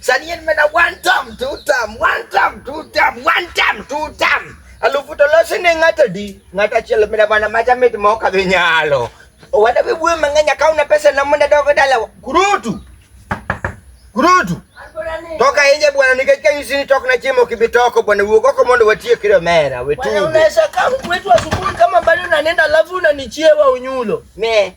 Sani en mana one time, two time, one time, two time, one time, two time. Alufu to losi ne ng'ata di, ng'ata chielo mina bana macha mit mo ka dhi nyalo. Owada bi buwe mang'enya ka una pesa na munda dogo dala. Kurutu. Kurutu. Toka nje bwana, nikajika hizi ni toka na chimo kibitoko bwana, uogoko mondo watie kile mera wetu. Bwana unaweza kama kwetu asubuhi kama bado unanenda, alafu unanichiewa unyulo. Me.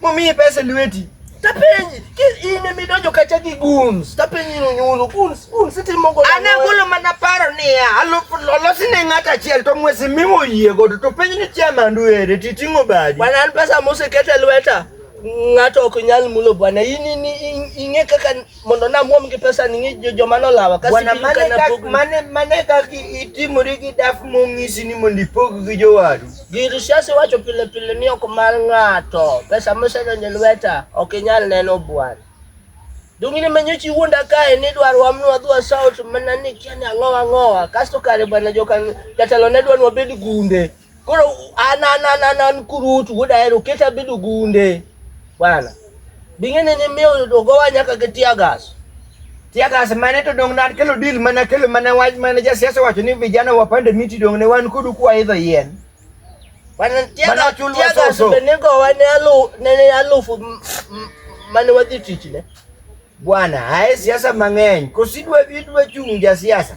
Momiyi pesa lweti. Tapenyi, ine midonjo kacha gi guns. Tapenyi no nyulo guns, guns itimo go. Ana golo mana paro niya, alosi ne ng'ata achiel to mwesi mimo yie godo to penyi ni chairman du ere titing'o badi. Bwana an pesa mosekete lweta ng'ato ok nyal mulo bwana. In ing'e kaka mondo namuom gi pesa ni ng'i joma nolawa kasi bwana mane kak mane mane kak itimori gi daf mong'isi ni mondo ipog gi jowadu gir siasa wacho pile pile ni ok mar ng'ato pesa mosedonjo lweta ok inyal neno bwana dongine manyochi wuonda kae ni dwaro wamnwa dhwa sauti mana ni kiani ang'owa ang'owa kasto kare bwana jokan jatelo ne dwa nwa bed gunde Koro ananananan kurutu udaero keta bidu gunde bwana bing'ene ni miyo dogowa nyaka gi tiagas tiagas mane to dong nan kelo deal mana kelo mana wach mana jasiasa wacho ni vijana wapande miti dong ne wan kudu kwa idho yien bwana tiagas tiagas be ne gowa ne alu ne alufu mane wadhi tich ne bwana ae siasa mang'eny kosidwa idwa chung' jasiasa siasa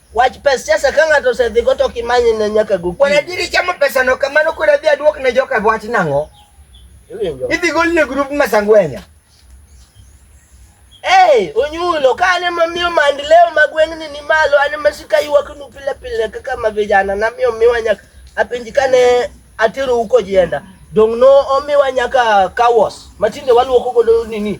Wach pes siasa ka ng'ato osedhigo to kimanye ne nyaka go. Kuon adieri chamo pesano kamano kuon adhi aduok ne joka wach nang'o? Idhi gol ne grup Masangwenya. Hey, onyulo ka ane mamiyo maendeleo ma gweng'ni ni malo ane masika ywaknu pile pile kaka ma vijana namiyo miwa nyaka apenji kane atero huko jienda dong' no omiwa nyaka kawas matinde waluoko godo nini